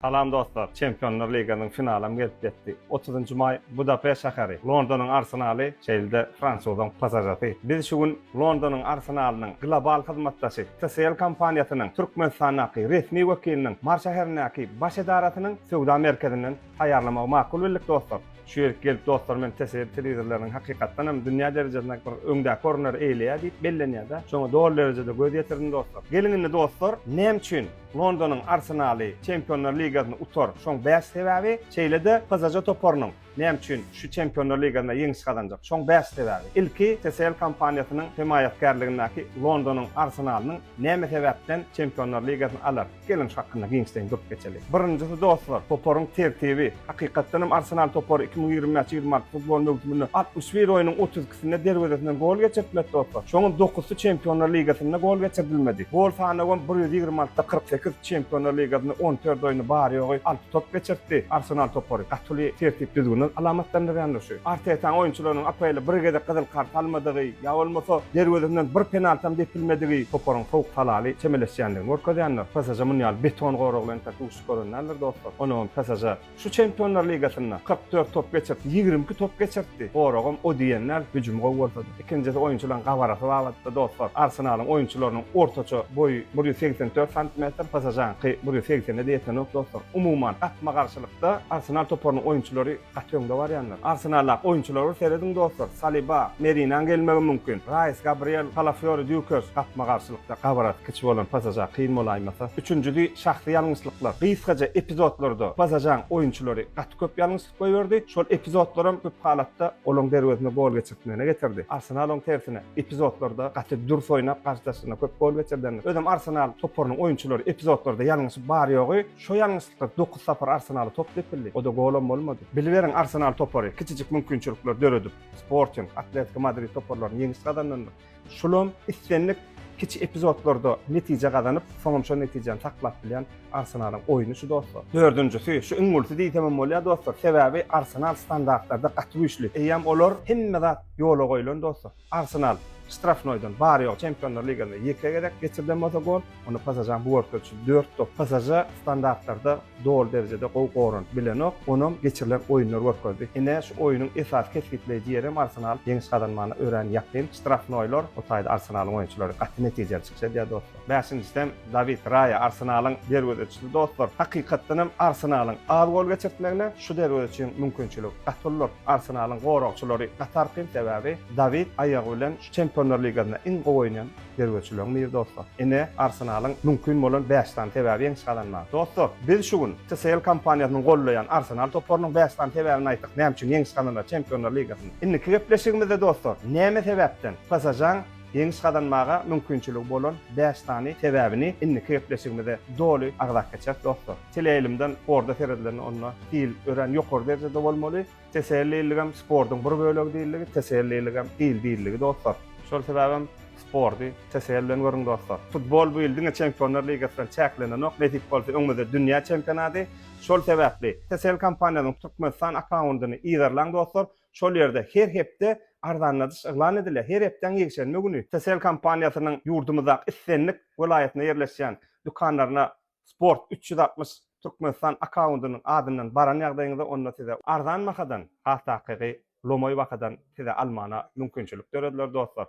Salam dostlar! Çempionlar ligasynyň finalam gelip ýetdi. Otuzynjy maý Budapest şäheri, Londonyň Arsenaly, şeýle-de fransuzyň PSŽ-si. Biz şu gün Londonyň Arsenalynyň global hyzmatdaşy TCL kompaniýasynyň Türkmenistandaky resmi wekiliniň Mar şäherindäki baş edarasynyň söwda merkezinden taýýarlamagy makul bildik dostlar. Şu ýerik gelip dostlar men TCL telewizorlarynyň hakykatdan hem dünýä derejesinde bir öňdäki orunlary eýleýär diýip bellenýär-dä. Şoňa doly derejede göz ýetirdim dostlar. Geliň indi dostlar näme üçin Londonyň Arsenaly Çempionlar ligasyny utar, şoň bäş sebäbi, şeýle-de PSŽ toparynyň näme üçin şu Çempionlar ligasynda ýeňiş gazanjak, şoň bäş sebäbi. Ilki TCL kompaniýasynyň hemaýatkarlygyndaky Londonyň Arsenalynyň näme sebäpden Çempionlar ligasyny alar? Geliň şu hakynda giňişleýin durup geçeli. Birinjisi dostlar, toparyň tertibi. Hakykatdanam Arsenal topary iki müň ýigrimi bäş ýigrimi alty futbol möwsüminde altmyş bir oýnuň otuz Üstüne derwezesinden gol geçirtmedi topar. Şonuň dokuzysy Çempionlar ligasynda gol geçirdilmedi. Gol sanawam bir ýüz ýigrimi altyda kyrk sekiz, Çempionlar ligasynda on dört oýny bary-ýogy alty top geçirtdi. Arsenal topary gaty uly tertip-düzgüni alamatlandyrýandyr şu. Artetaň oýunçylarynyň APL-e bir gezek gyzyl kart almadygy ýa bolmasa derwezesinden bir penaltam depilmedigi toparyň sowuk talaly çemeleşýändigini görkezýändir. PSŽ muny ýaly beton gorag bilen entek duşup gören däldir dostlar. Onagam PSŽ. Şu Çempionlar ligasynda kyrk dört top geçirip, ýigrimi iki top geçirtdi. Goragam o diýen däl, hüjüm gowy bolsa-da. Ikinjisi oýunçylaryň gabarasy babatda, dostlar. Arsenalyň oýunçylarynyň ortaça boýy bir ýüz segsen dört santimetr, PSŽ-niňki bir ýüz segsene-de ýetenok, dostlar. Umuman, gapma-garşylykda Arsenal toparynyň oýunçylary gaty öňde barýanlar. Arsenaldaky oýunçylara bir serediň, dostlar. Saliba, Merinaň gelmegi mümkin. Raýs, Gabriel, Kalafýori, Dýukers, gapma-garşylyk. we gabraty kiçi bolan pasaža kyn bolaýmasa, üçünjisi şahsy ýalňyşlyklar, gysgaja epizodlarda pasažaň oýunçylary gaty köp ýalňyşlyk goýberdi, şol epizodlaram köp halatda olaň derwezesine gol geçirtmegine getirdi. Arsenal oň tersine, epizodlarda gaty dürs oýnap garşydaşyna köp gol geçirdendir. Özem Arsenal toparynyň oýunçylary epizodlarda ýalňyşyp bar-ýogy şo ýalňyşlyklar dokuz sapar Arsenala top depildi, o-da golam bolmady. Biliberiň Arsenal topary kiçijik mümkinçilikler döredip Sporting, Atletiko Madrid toparlaryny ýeňiş gazandandyr. Şulam islendik kiçi epizodlarda netije gazanyp, soňam şol netijäni saklap bilýän Arsenalyň oýny şu dostlar. Dördünjisi, şu iň ulysy diýsemem bolýar dostlar, sebäbi Arsenal standartlarda gaty güýçli. Eýýäm olar hemme zat ýola goýlan dostlar. Arsenal ştrafnoýdan bary-ýogy Çempionlar ligasynda ýeke gezek geçirilen bolsa gol, Onda PSAJA-nyň bu bortlar üçin dört top PSAJA standartlarda doly derejede gowy goranyp bilenok. Onam geçirilen oýunlar görkezdi. Ine, şu oýunyň esasy kesgitleýji ýeri hem Arsenalyň ýeňiş gazanmagyna örän ýakyn ştrafnoýlar. Bu taýda Arsenalyň oýunçylary gaty netijeli çykyş edýär dostlar. Bäşinjisi hem Dawid Raýa, Arsenalyň derwezeçisi dostlar. Hakykatdan hem Arsenalyň az gol geçirtmegine şu derwezeçiň mümkinçiligi gaty uludyr. Arsenalyň goragçylary gaty argyn, sebäbi Dawid aýagy bilen şu Çempionlar ligasynda iň gowy oýnaýan Derweçileň nir dostlar? Ine, Arsenalyň mümkin bolan bäş sany sebäbi ýeňiş gazanmaga. Dostlar, biz şu gün TCL kompaniýasynyň gollaýan Arsenal toparynyň bäş sany sebäbini aýtdyk, näme üçin ýeňiş gazanýar Çempionlar ligasynda. Indiki gepleşigimizde dostlar, näme sebäpden PSŽ-nyň ýeňiş gazanmaga mümkinçiligi bolan bäş sany sebäbini indiki gepleşigimizde doly agzap geçeris dostlar. Teleýaýlymdan sporda seredilende onda hil örän ýokary derejede bolmaly. Teselliligem sportuň bir bölegi diýildigi, teselliligem il diýildigi dostlar. Şol sebäbem sporty TSL bilen görüň dostlar. Futbol bu ýyl diňe Çempionlar ligasy bilen çäklenenok, nesip bolsa öňümizde dünýä çempionady. Şol sebäpli TSL kompaniýasynyň Türkmenistan akkaundyny yzarlaň dostlar, şol ýerde her hepde arzanladyş yglan edilýär. Her hepdäň ýekşenbe güni TSL kompaniýasynyň ýurdumyzdaky islendik welaýatynda ýerleşýän dükanlaryna Sport üç ýüz altmyş Türkmenistan akkaundynyň adyndan baran ýagdaýyňyzda onda size arzan bahadan has takygy lomaý bahadan size almana mümkinçilik dörediler dostlar.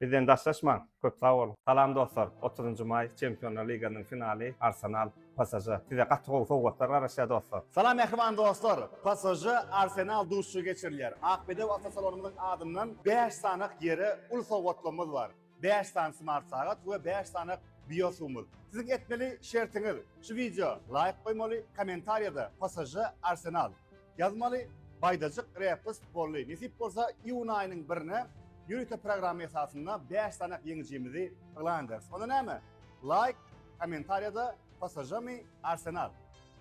Bizden daşlaşmaň. Köp sag boluň. Salam dostlar! Otuzynjy maý Çempionlar ligasynyň finaly Arsenal, PSŽ. Size gaty gowy sowgatlar garaşýar dostlar. Salam mähriban dostlar! PSŽ, Arsenal duşuşygy geçirilýär. Akbedew awtosalonymyzyň adyndan bäş sanyk ýere uly sowgatlamyz bar. Bäş sany smart sagat we bäş sany biosumur. Siziň etmeli şertiňiz şu wideo laýk goýmaly kommentariýada psž arsenal ýazmaly baýdajyk repst bolly nesip bolsa iun aýynyň birine ýörite programma esasynda bäş sanak ýeňijimizi yglan ederis onda näme laýk kommentariýada PSŽ-mi, Arsenal?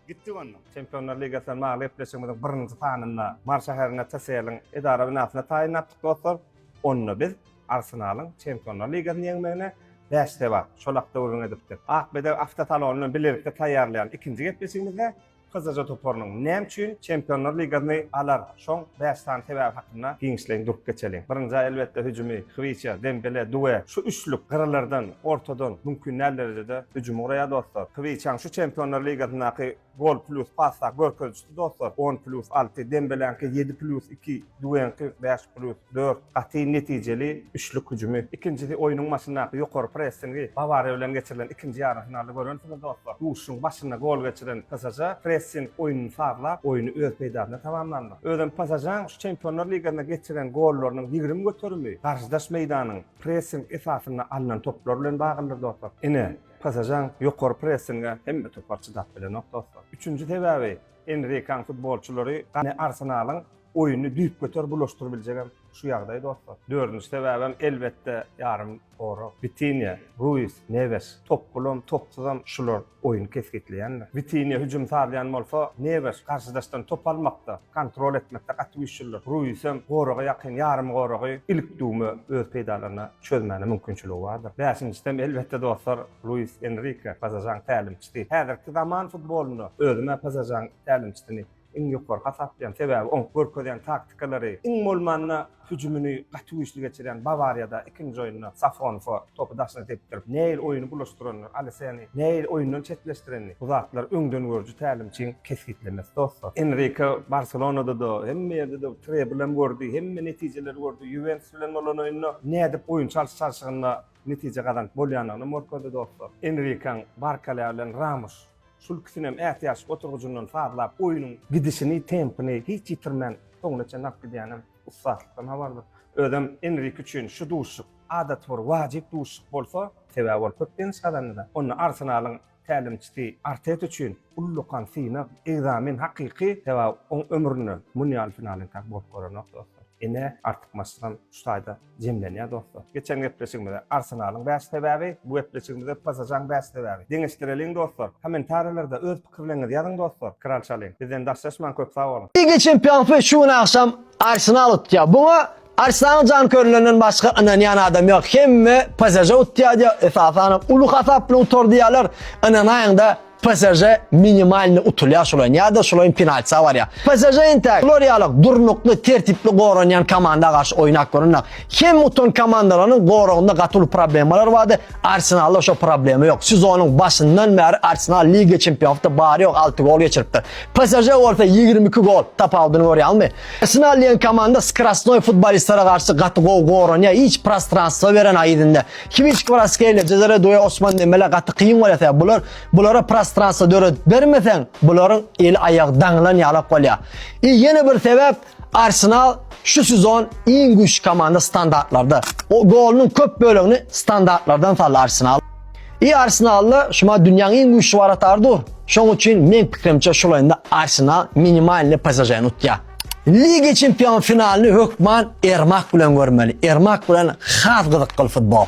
Gitdik ondan. Çempionlar ligasyna bagly gepleşigimiziň birinji sanynda Mary şäherinde TSL-iň edara binasyna taýyn ýapdyk dostlar. Onda biz Arsenalyň Çempionlar ligasyny ýeňmegine bäş sebap, şol hakda gürrüň edipdik. Akbedeg awtosalony bilen bilelikde taýýarlaýan ikinji gepleşigimizde Gyzyja toparynyň näme üçin Çempionlar ligasyny alar, şoň bäş sany sebäbi hakynda giňişleýin durup geçeliň. Birinji, elbetde, hüjümi, Hwiça, Dembele, Due. Şu üçlük gyralardan, ortadan mümkin däl derejede hüjümi guraýar, dostlar. Hwiçaň şu Çempionlar ligasyndaky gol plýus pas görkezijisi, dostlar, on plýus alty, Dembeläňki ýedi plýus iki. Düýeňki bäş plýus dört gaty netijeli üçlük hüjümi. Ikinjisi oýnuň başyndaky ýokary pressingi. Bawariýa bilen geçirilen ikinji ýarym finalda görensiňiz dostlar. Duşuşygyň başynda gol geçiren PSŽ pressing oýnuny sazlap, oýny öz peýdasyna tamamlandyr. Özem PSŽ-iň şu Çempionlar ligasynda geçiren gollarynyň ýigrimi göterimi garşydaş meýdanyň pressing esasynda alnan toplar bilen baglydyr dostlar. Ine, PSŽ-iň ýokary pressinge hemme topar çydap bilenok dostlar. Üçünji sebäbi Enrikaň futbolçylary gani Arsenalyň oýuny düýpgöter bulaşdyrybiljegem şu ýagdaý dostlar. Dördünji sebäbem elbetde ýarym gorag. Witiniýa, Ruiz, Newes. Top bulam, topsuzam şular oýuny kesgitleýänler. Witiniýa hüjüm sazlaýan bolsa, Newes garşydaşdan top almakda, kontrol etmekde gaty güýçlidir. Ruizem goraga ýakyn ýarym goragy ilik düwme öz peýdalaryna çözmäne mümkinçiligi bardyr. Bäşinjisem elbetde dostlar Luis Enrike, PSŽ-iň tälimçisi, Häzirki zaman futbolynda özüm-ä PSŽ-iň tälimçisini iň ýokary hasaplaýaryn, sebäbi oň görkezýän taktikalary, iň bolmanda hüjümini gaty güýçli geçirýän Bawariýada ikinji oýunda Safonfa topy daşyna depdirip, nähili oýuny bulaşdyranyny, Aleseni nähili oýundan çetleşdirenini, bu zatlar öňdengörüji tälimçiň kesgitlemesi dostlar. Enrike Barselonada-da, hemme ýerde-de treble hem gördi, hemme netijeleri gördi, Ýuwentus bilen bolan oýunda nädip oýun çalşyp çalşygyny-da netije gazanyp bolýandygyny morkady dostlar. Enrikaň Barkalýa bilen Ramuş, şul ikisinem ätiýaçlyk oturgyjyndan sazlap, oýnuň gidişini, tempini hiç ýitirmän soňuna çenli alyp gidýänem ussatlykdan habardyr. Özem Enrik üçin şu duşuşyk adaty bir wajyp duşuşyk bolsa, sebäbi ol köp ýeňiş gazandy-da. Onda Arsenalyň tälimçisi Arteta üçin ullakan synag, ekzamen hakyky, sebäbi oň ömründe muny ýaly finalyň tä bolup görenok dostlar. Ine, artykmaçlygam şu taýda jemlenýär dostlar. Geçen gepleşigimize Arsenalyň bäş sebäbi, bu gepleşigimize PSŽ-nyň bäş sebäbi. Deňeşdireliň dostlar. Kommentariýalarda öz pikirleriňizi ýazyň dostlar. Kraliçalyň bizden daşlaşmaň köp sag boluň. Liga çempionpy şu gün agşam Arsenal utýar. Buňa Açsaň jankörlerinden başga ynanýan adam ýok. Hemme PSJ utýadýa, esasanam uly hasap bilen utar diýýärler. Ynanaýyňda PSJ minimalny utulýar şolaýyn ýa-da şolaýyn penaltisa barýar. PSJ entäk bular ýaly durnukly, tertipli goranýan komanda garşy oýnap görünä. Hem utan komandalaryň goragynda gaty uly problemalar bardy. Arsenalda şo problema ýok. Sezonyň başyndan bäri Arsenal Liga Çempionatda bary ýok 6 gol geçiripdir. PSJ bolsa 22 gol tapawudyny görýärmi? Arsenal diýen komanda skrasnoý futbolistlere garşy gaty gowy goranýar, hiç prostranstwo beren aýyzynda. Kiwiç Kwaraskelia, Cezare Due, Osman Dembele gaty kyn bolýar sebäp bular bulara prostranstwo döredip bermeseň, bularyň eli aýagy daňylan ýalak bolýar. I ýene bir sebäp Arsenal şu sezon iň güýçli komanda standartlarda. O golunyň köp bölegini standartlardan saldy Arsenal. I Arsenalda şuma dünýäň iň güýçli waratar dur. Şoň üçin men pikirimçe şol oýunda Arsenal minimalny PSŽ-ni utýar. Liga çempion finalyny hökman Ermak bilen görmeli. Ermak bilen has gyzykly futbol.